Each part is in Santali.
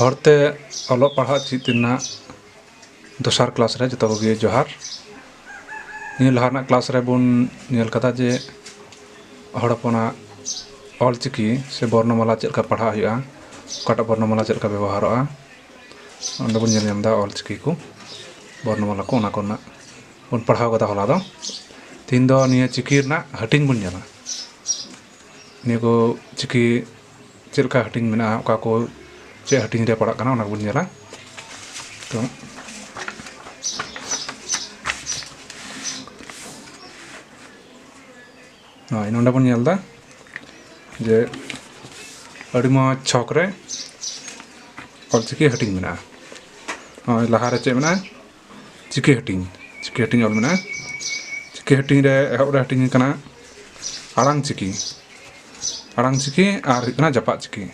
ᱦᱚᱲᱛᱮ ᱚᱞᱚᱜ ᱯᱟᱲᱦᱟᱜ ᱪᱮᱫ ᱨᱮᱱᱟᱜ ᱫᱚᱥᱟᱨ ᱠᱞᱟᱥ ᱨᱮ ᱡᱚᱛᱚ ᱠᱚᱜᱮ ᱡᱚᱦᱟᱨ ᱱᱤᱭᱟᱹ ᱞᱟᱦᱟ ᱨᱮᱱᱟᱜ ᱠᱞᱟᱥ ᱨᱮᱵᱚᱱ ᱧᱮᱞ ᱠᱟᱫᱟ ᱡᱮ ᱦᱚᱲ ᱦᱚᱯᱚᱱᱟᱜ ᱚᱞ ᱪᱤᱠᱤ ᱥᱮ ᱵᱚᱨᱱᱚᱢᱟᱞᱟ ᱪᱮᱫ ᱞᱮᱠᱟ ᱯᱟᱲᱦᱟᱜ ᱦᱩᱭᱩᱜᱼᱟ ᱚᱠᱟᱴᱟᱜ ᱵᱚᱨᱱᱚᱢᱟᱞᱟ ᱪᱮᱫ ᱞᱮᱠᱟ ᱵᱮᱵᱚᱦᱟᱨᱚᱜᱼᱟ ᱚᱸᱰᱮ ᱵᱚᱱ ᱧᱮᱞ ᱧᱟᱢᱫᱟ ᱚᱞ ᱪᱤᱠᱤ ᱠᱚ ᱵᱚᱨᱱᱚᱢᱟᱞᱟ ᱠᱚ ᱚᱱᱟ ᱠᱚᱨᱮᱱᱟᱜ ᱵᱚᱱ ᱯᱟᱲᱦᱟᱣ ᱠᱟᱫᱟ ᱦᱚᱞᱟ ᱫᱚ ᱛᱮᱦᱮᱧ ᱫᱚ ᱱᱤᱭᱟᱹ ᱪᱤᱠᱤ ᱨᱮᱱᱟᱜ ᱦᱟᱹᱴᱤᱧ ᱵᱚᱱ ᱧᱮᱞᱟ ᱱᱤᱭᱟᱹ ᱠᱚ ᱪᱤᱠᱤ ᱪᱮᱫ ᱞᱮᱠᱟ ᱦᱟᱹᱴᱤᱧ ᱢᱮᱱᱟᱜᱼᱟ ᱚᱠᱟ ᱠᱚ ᱪᱮᱫ ᱦᱟᱹᱴᱤᱧ ᱨᱮ ᱯᱟᱲᱟᱜ ᱠᱟᱱᱟ ᱚᱱᱟ ᱠᱚᱵᱚᱱ ᱧᱮᱞᱟ ᱛᱚ ᱦᱳᱭ ᱱᱚᱰᱮ ᱵᱚᱱ ᱧᱮᱞ ᱮᱫᱟ ᱡᱮ ᱟᱹᱰᱤ ᱢᱚᱡᱽ ᱪᱷᱚᱠ ᱨᱮ ᱚᱞᱪᱤᱠᱤ ᱦᱟᱹᱴᱤᱧ ᱢᱮᱱᱟᱜᱼᱟ ᱱᱚᱜᱼᱚᱭ ᱞᱟᱦᱟᱨᱮ ᱪᱮᱫ ᱢᱮᱱᱟᱜᱼᱟ ᱪᱤᱠᱟᱹ ᱦᱟᱹᱴᱤᱧ ᱪᱤᱠᱟᱹ ᱦᱟᱹᱴᱤᱧ ᱚᱞ ᱢᱮᱱᱟᱜᱼᱟ ᱪᱤᱠᱟᱹ ᱦᱟᱹᱴᱤᱧ ᱨᱮ ᱮᱦᱚᱵ ᱨᱮ ᱦᱟᱹᱴᱤᱧ ᱠᱟᱱᱟ ᱟᱲᱟᱝ ᱪᱤᱠᱤ ᱟᱲᱟᱝ ᱪᱤᱠᱤ ᱟᱨ ᱦᱩᱭᱩᱜ ᱠᱟᱱᱟ ᱡᱟᱯᱟᱜ ᱪᱤᱠᱤ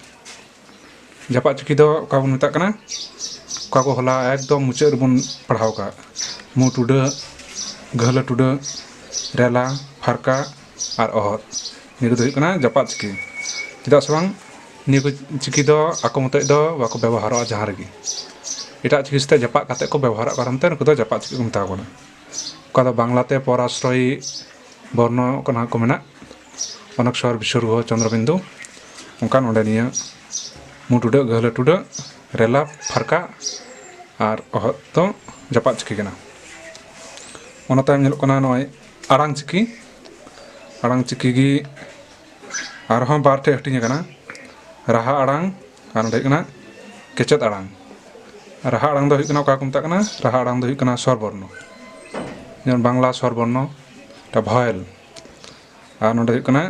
ᱡᱟᱯᱟᱜ ᱪᱤᱠᱤ ᱫᱚ ᱚᱠᱟ ᱵᱚᱱ ᱢᱮᱛᱟᱜ ᱠᱟᱱᱟ ᱚᱠᱟ ᱠᱚ ᱦᱚᱞᱟ ᱮᱠᱫᱚᱢ ᱢᱩᱪᱟᱹᱫ ᱨᱮᱵᱚᱱ ᱯᱟᱲᱦᱟᱣ ᱠᱟᱜ ᱢᱩ ᱴᱩᱰᱟᱹᱜ ᱜᱟᱹᱦᱞᱟᱹ ᱴᱩᱰᱟᱹᱜ ᱨᱮᱞᱟ ᱯᱷᱟᱨᱠᱟ ᱟᱨ ᱚᱦᱚᱫ ᱱᱤᱭᱟᱹ ᱠᱚᱫᱚ ᱦᱩᱭᱩᱜ ᱠᱟᱱᱟ ᱡᱟᱯᱟᱜ ᱪᱤᱠᱤ ᱪᱮᱫᱟᱜ ᱥᱮ ᱵᱟᱝ ᱱᱤᱭᱟᱹ ᱠᱚ ᱪᱤᱠᱤ ᱫᱚ ᱟᱠᱚ ᱢᱚᱛᱚᱡ ᱫᱚ ᱵᱟᱠᱚ ᱵᱮᱵᱚᱦᱟᱨᱚᱜᱼᱟ ᱡᱟᱦᱟᱸ ᱨᱮᱜᱮ ᱮᱴᱟᱜ ᱪᱤᱠᱤ ᱥᱟᱛᱮᱜ ᱡᱟᱯᱟᱜ ᱠᱟᱛᱮᱫ ᱠᱚ ᱵᱮᱵᱚᱦᱟᱨᱚᱜ ᱠᱟᱨᱚᱱ ᱛᱮ ᱱᱩᱠᱩ ᱫᱚ ᱡᱟᱯᱟᱜ ᱪᱤᱠᱟᱹ ᱠᱚ ᱢᱮᱛᱟᱣ ᱠᱚ ᱠᱟᱱᱟ ᱚᱠᱟ ᱫᱚ ᱵᱟᱝᱞᱟ ᱛᱮ ᱯᱚᱨ ᱟᱥᱨᱚᱭᱤ ᱵᱚᱨᱱᱚ ᱠᱟᱱᱟ ᱠᱚ ᱢᱮᱱᱟᱜ ᱚᱱᱚᱠ ᱥᱚᱨ ᱵᱤᱥᱚᱨᱜᱚ ᱪᱚᱱᱫᱨᱚ ᱵᱤᱱᱫᱩ ᱚᱱᱠᱟ ᱱᱚᱰᱮ ᱱᱤᱭᱟᱹ ᱢᱩ ᱴᱩᱰᱟᱹᱜ ᱜᱟᱹᱦᱞᱟᱹ ᱴᱩᱰᱟᱹᱜ ᱨᱮᱞᱟ ᱯᱷᱟᱨᱠᱟ ᱟᱨ ᱚᱦᱚᱫ ᱫᱚ ᱡᱟᱯᱟᱜ ᱪᱤᱠᱤ ᱠᱟᱱᱟ ᱚᱱᱟ ᱛᱟᱭᱚᱢ ᱧᱮᱞᱚᱜ ᱠᱟᱱᱟ ᱱᱚᱜᱼᱚᱸᱭ ᱟᱲᱟᱝ ᱪᱤᱠᱤ ᱟᱲᱟᱝ ᱪᱤᱠᱤ ᱜᱮ ᱟᱨᱦᱚᱸ ᱵᱟᱨ ᱴᱷᱮᱡ ᱦᱟᱹᱴᱤᱧ ᱟᱠᱟᱱᱟ ᱨᱟᱦᱟ ᱟᱲᱟᱝ ᱟᱨ ᱱᱚᱰᱮ ᱦᱩᱭᱩᱜ ᱠᱟᱱᱟ ᱠᱮᱪᱮᱫ ᱟᱲᱟᱝ ᱨᱟᱦᱟ ᱟᱲᱟᱝ ᱫᱚ ᱦᱩᱭᱩᱜ ᱠᱟᱱᱟ ᱚᱠᱟ ᱠᱚ ᱢᱮᱛᱟᱜ ᱠᱟᱱᱟ ᱨᱟᱦᱟ ᱟᱲᱟᱝ ᱫᱚ ᱦᱩᱭᱩᱜ ᱠᱟᱱᱟ ᱥᱚᱨ ᱵᱚᱨᱱᱚ ᱡᱮᱢᱚᱱ ᱵᱟᱝᱞᱟ ᱥᱚᱨ ᱵᱚᱨᱱᱚ ᱚᱠᱟ ᱵᱷᱚᱭᱮᱞ ᱟᱨ ᱱᱚᱰᱮ ᱦᱩᱭᱩᱜ ᱠᱟᱱᱟ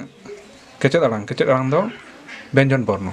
ᱠᱮᱪᱮᱫ ᱟᱲᱟᱝ ᱠᱮᱪᱮᱫ ᱟᱲᱟᱝ ᱫᱚ ᱵᱮᱧᱡᱚᱱ ᱵᱚᱨᱱᱚ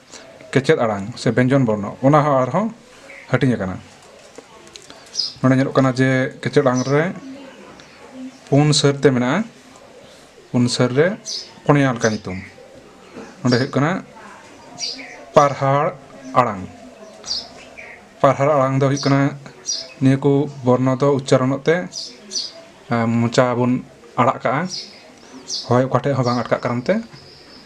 ᱠᱮᱪᱮᱫ ᱟᱲᱟᱝ ᱥᱮ ᱵᱮᱧᱡᱚᱱ ᱵᱚᱨᱱᱚ ᱚᱱᱟ ᱦᱚᱸ ᱟᱨ ᱦᱚᱸ ᱦᱟᱹᱴᱤᱧ ᱟᱠᱟᱱᱟ᱾ ᱱᱚᱰᱮ ᱧᱮᱞᱚᱜ ᱠᱟᱱᱟ ᱡᱮ ᱠᱮᱪᱮᱫ ᱟᱲᱟᱝ ᱨᱮ ᱯᱩᱱ ᱥᱟᱹᱨ ᱛᱮ ᱢᱮᱱᱟᱜᱼᱟ᱾ ᱯᱩᱱ ᱥᱟᱹᱨ ᱨᱮ ᱯᱩᱱᱭᱟ ᱞᱮᱠᱟ ᱧᱩᱛᱩᱢ ᱱᱚᱰᱮ ᱦᱩᱭᱩᱜ ᱠᱟᱱᱟ ᱯᱟᱨᱦᱟᱲ ᱟᱲᱟᱝ᱾ ᱯᱟᱨᱦᱟᱲ ᱟᱲᱟᱝ ᱫᱚ ᱦᱩᱭᱩᱜ ᱠᱟᱱᱟ ᱱᱤᱭᱟᱹ ᱠᱚ ᱵᱚᱨᱱᱚ ᱫᱚ ᱩᱪᱪᱟᱨᱚᱱᱚᱜ ᱛᱮ ᱢᱚᱪᱟ ᱵᱚᱱ ᱟᱲᱟᱜ ᱠᱟᱜᱼᱟ ᱦᱚᱭ ᱚᱠᱟ ᱴᱷᱮᱡ ᱦᱚᱸ ᱵᱟᱝ ᱟᱴᱠᱟᱜ ᱠᱟᱨᱚᱱ ᱛᱮ᱾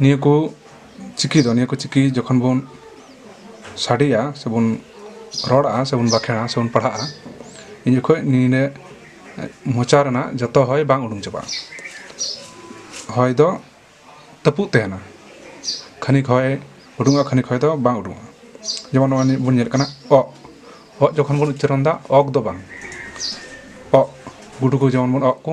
ᱱᱤᱭᱟᱹ ᱠᱚ ᱪᱤᱠᱤ ᱫᱚ ᱱᱤᱭᱟᱹ ᱠᱚ ᱪᱤᱠᱤ ᱡᱚᱠᱷᱚᱱ ᱵᱚᱱ ᱥᱟᱰᱮᱭᱟ ᱥᱮᱵᱚᱱ ᱨᱚᱲᱟ ᱥᱮᱵᱚᱱ ᱵᱟᱸᱠᱷᱮᱲᱟ ᱥᱮᱵᱚᱱ ᱯᱟᱲᱦᱟᱜᱼᱟ ᱤᱱ ᱡᱚᱠᱷᱚᱡ ᱱᱤᱭᱟᱹ ᱢᱚᱪᱟ ᱨᱮᱱᱟᱜ ᱡᱚᱛᱚ ᱦᱚᱭ ᱵᱟᱝ ᱩᱰᱩᱠ ᱪᱟᱵᱟᱜᱼᱟ ᱦᱚᱭ ᱫᱚ ᱛᱟᱹᱯᱩᱜ ᱛᱟᱦᱮᱱᱟ ᱠᱷᱟᱹᱱᱤᱠ ᱦᱚᱭ ᱩᱰᱩᱠᱚᱜᱼᱟ ᱠᱷᱟᱹᱱᱤᱠ ᱦᱚᱭ ᱫᱚ ᱵᱟᱝ ᱩᱰᱩᱠᱚᱜᱼᱟ ᱡᱮᱢᱚᱱ ᱱᱚᱜᱼᱚᱭ ᱱᱤᱛ ᱵᱚᱱ ᱧᱮᱞ ᱠᱟᱱᱟ ᱚᱜ ᱚᱜ ᱡᱚᱠᱷᱚᱱ ᱵᱚᱱ ᱩᱪᱪᱟᱨᱚᱱᱫᱟ ᱚᱜᱽ ᱫᱚ ᱵᱟᱝ ᱚᱜ ᱜᱩᱰᱩ ᱠᱚ ᱡᱮᱢᱚᱱ ᱵᱚᱱ ᱚᱜ ᱠᱚ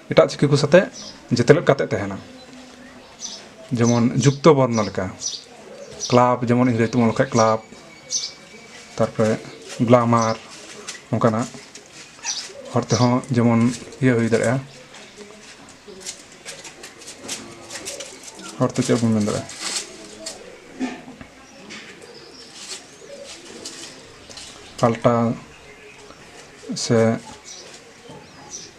ᱮᱴᱟᱜ ᱪᱤᱠᱤ ᱠᱚ ᱥᱟᱛᱮ ᱡᱮᱛᱮᱞᱮᱫ ᱠᱟᱛᱮ ᱛᱟᱦᱮᱱᱟ ᱡᱮᱢᱚᱱ ᱡᱩᱠᱛᱚ ᱵᱚᱨᱱᱚ ᱞᱮᱠᱟ ᱠᱞᱟᱵᱽ ᱡᱮᱢᱚᱱ ᱤᱝᱨᱮᱡᱽ ᱛᱮᱵᱚᱱ ᱚᱞ ᱞᱮᱠᱷᱟᱡ ᱠᱞᱟᱵᱽ ᱛᱟᱨᱯᱚᱨᱮ ᱜᱞᱟᱢᱟᱨ ᱚᱱᱠᱟᱱᱟᱜ ᱦᱚᱲ ᱛᱮᱦᱚᱸ ᱡᱮᱢᱚᱱ ᱤᱭᱟᱹ ᱦᱩᱭ ᱫᱟᱲᱮᱭᱟᱜᱼᱟ ᱦᱚᱲ ᱛᱮ ᱪᱮᱫ ᱵᱚᱱ ᱢᱮᱱ ᱫᱟᱲᱮᱭᱟᱜᱼᱟ ᱯᱟᱞᱴᱟᱣ ᱥᱮ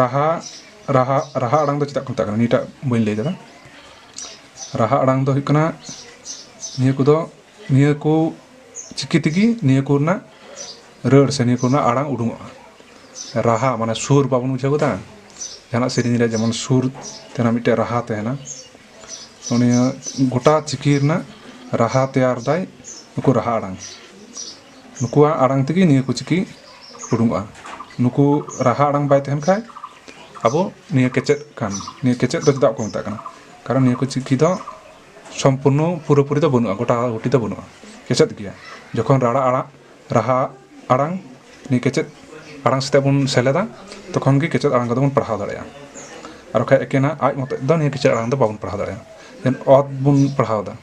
ᱨᱟᱦᱟ ᱨᱟᱦᱟ ᱨᱟᱦᱟ ᱟᱲᱟᱝ ᱫᱚ ᱪᱮᱫᱟᱜ ᱠᱚ ᱢᱮᱛᱟᱜ ᱠᱟᱱᱟ ᱱᱤᱭᱟᱹᱴᱟᱜ ᱵᱟᱹᱧ ᱞᱟᱹᱭ ᱠᱟᱫᱟ ᱨᱟᱦᱟ ᱟᱲᱟᱝ ᱫᱚ ᱦᱩᱭᱩᱜ ᱠᱟᱱᱟ ᱱᱤᱭᱟᱹ ᱠᱚᱫᱚ ᱱᱤᱭᱟᱹ ᱠᱚ ᱪᱤᱠᱤ ᱛᱮᱜᱮ ᱱᱤᱭᱟᱹ ᱠᱚ ᱨᱮᱱᱟᱜ ᱨᱟᱹᱲ ᱥᱮ ᱱᱤᱭᱟᱹ ᱠᱚ ᱨᱮᱱᱟᱜ ᱟᱲᱟᱝ ᱩᱰᱩᱠᱚᱜᱼᱟ ᱨᱟᱦᱟ ᱢᱟᱱᱮ ᱥᱩᱨ ᱵᱟᱵᱚᱱ ᱵᱩᱡᱷᱟᱹᱣ ᱠᱟᱫᱟ ᱡᱟᱦᱟᱱᱟᱜ ᱥᱮᱨᱮᱧ ᱨᱮ ᱡᱮᱢᱚᱱ ᱥᱩᱨ ᱛᱟᱦᱮᱱᱟ ᱢᱤᱫᱴᱮᱡ ᱨᱟᱦᱟ ᱛᱟᱦᱮᱱᱟ ᱱᱤᱭᱟᱹ ᱜᱳᱴᱟ ᱪᱤᱠᱤ ᱨᱮᱱᱟᱜ ᱨᱟᱦᱟ ᱛᱮᱭᱟᱨ ᱫᱟᱭ ᱱᱩᱠᱩ ᱨᱟᱦᱟ ᱟᱲᱟᱝ ᱱᱩᱠᱩᱣᱟᱜ ᱟᱲᱟᱝ ᱛᱮᱜᱮ ᱱᱤᱭᱟᱹ ᱠᱚ ᱪᱤᱠᱤ ᱩᱰᱩᱝᱚᱜᱼᱟ ᱱᱩᱠᱩ ᱨᱟᱦᱟ ᱟᱲᱟᱝ ᱵᱟᱭ ᱛᱟᱦᱮᱱ ᱠᱷᱟᱡ ᱟᱵᱚ ᱱᱤᱭᱟᱹ ᱠᱮᱪᱮᱫ ᱠᱟᱱ ᱱᱤᱭᱟᱹ ᱠᱮᱪᱮᱫ ᱫᱚ ᱪᱮᱫᱟᱜ ᱠᱚ ᱢᱮᱛᱟᱜ ᱠᱟᱱᱟ ᱠᱟᱨᱚᱱ ᱱᱤᱭᱟᱹ ᱠᱚ ᱪᱤᱠᱤ ᱫᱚ ᱥᱚᱢᱯᱩᱨᱱᱚ ᱯᱩᱨᱟᱹ ᱯᱩᱨᱤ ᱫᱚ ᱵᱟᱹᱱᱩᱜᱼᱟ ᱜᱚᱴᱟ ᱜᱩᱴᱤ ᱫᱚ ᱵᱟᱹᱱᱩᱜᱼᱟ ᱠᱮᱪᱮᱫ ᱜᱮᱭᱟ ᱡᱚᱠᱷᱚᱱ ᱨᱟᱲᱟ ᱟᱲᱟᱜ ᱨᱟᱦᱟ ᱟᱲᱟᱝ ᱱᱤᱭᱟᱹ ᱠᱮᱪᱮᱫ ᱟᱲᱟᱝ ᱥᱟᱛᱮᱜ ᱵᱚᱱ ᱥᱮᱞᱮᱫᱟ ᱛᱚᱠᱷᱚᱱ ᱜᱮ ᱠᱮᱪᱮᱫ ᱟᱲᱟᱝ ᱠᱚᱫᱚ ᱵᱚᱱ ᱯᱟᱲᱦᱟᱣ ᱫᱟᱲᱮᱭᱟᱜᱼᱟ ᱟᱨ ᱵᱟᱠᱷᱟᱡ ᱮᱠᱮᱱᱟᱜ ᱟᱡ ᱢᱚᱛᱚᱡ ᱫᱚ ᱱᱤᱭᱟᱹ ᱠᱮᱪᱮᱫ ᱟᱲᱟᱝ ᱫᱚ ᱵᱟᱵᱚᱱ ᱯᱟᱲᱦᱟᱣ ᱫᱟᱲᱮᱭᱟᱜᱼᱟ ᱡᱮᱢᱚᱱ ᱚᱛ ᱵᱚᱱ ᱯᱟᱲᱦᱟᱣᱫᱟ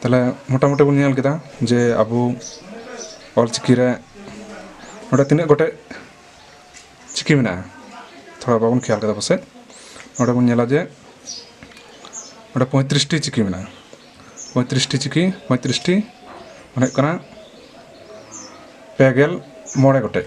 ᱛᱟᱦᱚᱞᱮ ᱢᱳᱴᱟᱢᱩᱴᱤ ᱵᱚᱱ ᱧᱮᱞ ᱠᱮᱫᱟ ᱡᱮ ᱟᱵᱚ ᱚᱞᱪᱤᱠᱤ ᱨᱮ ᱱᱚᱰᱮ ᱛᱤᱱᱟᱹᱜ ᱜᱚᱴᱮᱡ ᱪᱤᱠᱤ ᱢᱮᱱᱟᱜᱼᱟ ᱛᱷᱚᱲᱟ ᱵᱟᱵᱚᱱ ᱠᱷᱮᱭᱟᱞ ᱠᱟᱫᱟ ᱯᱟᱥᱮᱡ ᱱᱚᱰᱮ ᱵᱚᱱ ᱧᱮᱞᱟ ᱡᱮ ᱱᱚᱰᱮ ᱯᱚᱸᱭᱛᱨᱤᱥᱴᱤ ᱪᱤᱠᱤ ᱢᱮᱱᱟᱜᱼᱟ ᱯᱚᱸᱭᱛᱨᱤᱥᱴᱤ ᱪᱤᱠᱤ ᱯᱚᱸᱭᱛᱨᱤᱥᱴᱤ ᱢᱟᱱᱮ ᱦᱩᱭᱩᱜ ᱠᱟᱱᱟ ᱯᱮ ᱜᱮᱞ ᱢᱚᱬᱮ ᱜᱚᱴᱮᱡ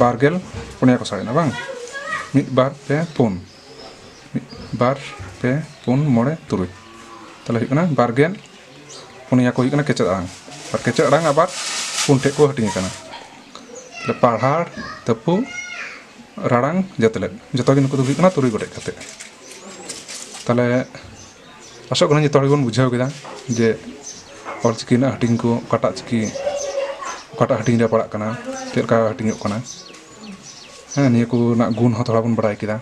ᱵᱟᱨᱜᱮᱞ ᱯᱩᱱᱭᱟ ᱠᱚ ᱥᱟᱵᱮᱱᱟ ᱵᱟᱝ ᱢᱤᱫ ᱵᱟᱨ ᱯᱮ ᱯᱩᱱ ᱢᱤᱫ ᱵᱟᱨ ᱯᱮ ᱯᱩᱱ ᱢᱚᱬᱮ ᱛᱩᱨᱩᱭ ᱛᱟᱦᱚᱞᱮ ᱦᱩᱭᱩᱜ ᱠᱟᱱᱟ ᱵᱟᱨᱜᱮᱞ ᱯᱩᱱᱭᱟ ᱠᱚ ᱦᱩᱭᱩᱜ ᱠᱟᱱᱟ ᱠᱮᱪᱮᱫ ᱟᱲᱟᱝ ᱟᱨ ᱠᱮᱪᱮᱫ ᱟᱲᱟᱝ ᱟᱵᱟᱨ ᱯᱩᱱ ᱴᱷᱮᱡ ᱠᱚ ᱦᱟᱹᱴᱤᱧ ᱟᱠᱟᱱᱟ ᱛᱟᱦᱚᱞᱮ ᱯᱟᱲᱦᱟᱲ ᱛᱟᱹᱯᱩ ᱨᱟᱲᱟᱝ ᱡᱟᱹᱛᱞᱮᱫ ᱡᱚᱛᱚ ᱜᱮ ᱱᱩᱠᱩ ᱫᱚ ᱦᱩᱭᱩᱜ ᱠᱟᱱᱟ ᱛᱩᱨᱩᱭ ᱜᱚᱴᱮᱡ ᱠᱟᱛᱮ ᱛᱟᱦᱚᱞᱮ ᱟᱥᱚᱜ ᱠᱟᱹᱱᱟᱹᱧ ᱡᱚᱛᱚ ᱦᱚᱲ ᱜᱮᱵᱚᱱ ᱵᱩᱡᱷᱟᱹᱣ ᱠᱮᱫᱟ ᱡᱮ ᱚᱞᱪᱤᱠᱤ ᱨᱮᱱᱟᱜ ᱦᱟᱹᱴᱤᱧ ᱠᱚ ᱚᱠᱟᱴᱟᱜ ᱪᱤᱠᱤ ᱚᱠᱟᱴᱟᱜ ᱦᱟᱹᱴᱤᱧ ᱨᱮ ᱯᱟᱲᱟᱜ ᱠᱟᱱᱟ ᱪᱮᱫ ᱞᱮᱠᱟ ᱦᱟᱹᱴᱤᱧᱚᱜ ᱠᱟᱱᱟ ᱦᱮᱸ ᱱᱤᱭᱟᱹ ᱠᱚ ᱨᱮᱱᱟᱜ ᱜᱩᱱ ᱦᱚᱸ ᱛᱷᱚᱲᱟ ᱵᱚᱱ ᱵᱟᱲᱟᱭ ᱠᱮᱫᱟ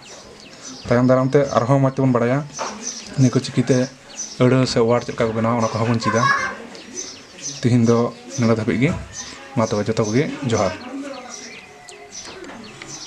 ᱛᱟᱭᱚᱢ ᱫᱟᱨᱟᱢ ᱛᱮ ᱟᱨ ᱦᱚᱸ ᱢᱚᱡᱽ ᱛᱮᱵᱚᱱ ᱵᱟᱲᱟᱭᱟ ᱱᱤᱭᱟᱹ ᱠᱚ ᱪᱤᱠᱤ ᱛᱮ ᱟᱹᱲᱟᱹ ᱥᱮ ᱚᱣᱟᱨᱰ ᱪᱮᱫ ᱞᱮᱠᱟ ᱠᱚ ᱵᱮᱱᱟᱣᱟ ᱚᱱᱟ ᱠᱚᱦᱚᱸ ᱵᱚᱱ ᱪᱮᱫᱟ ᱛᱮᱦᱮᱧ ᱫᱚ ᱱᱚᱰᱮ ᱫᱷᱟᱹᱵᱤᱡ ᱜᱮ ᱢᱟ ᱛᱚᱵᱮ ᱡᱚᱛᱚ ᱠᱚᱜᱮ ᱡᱚᱦᱟᱨ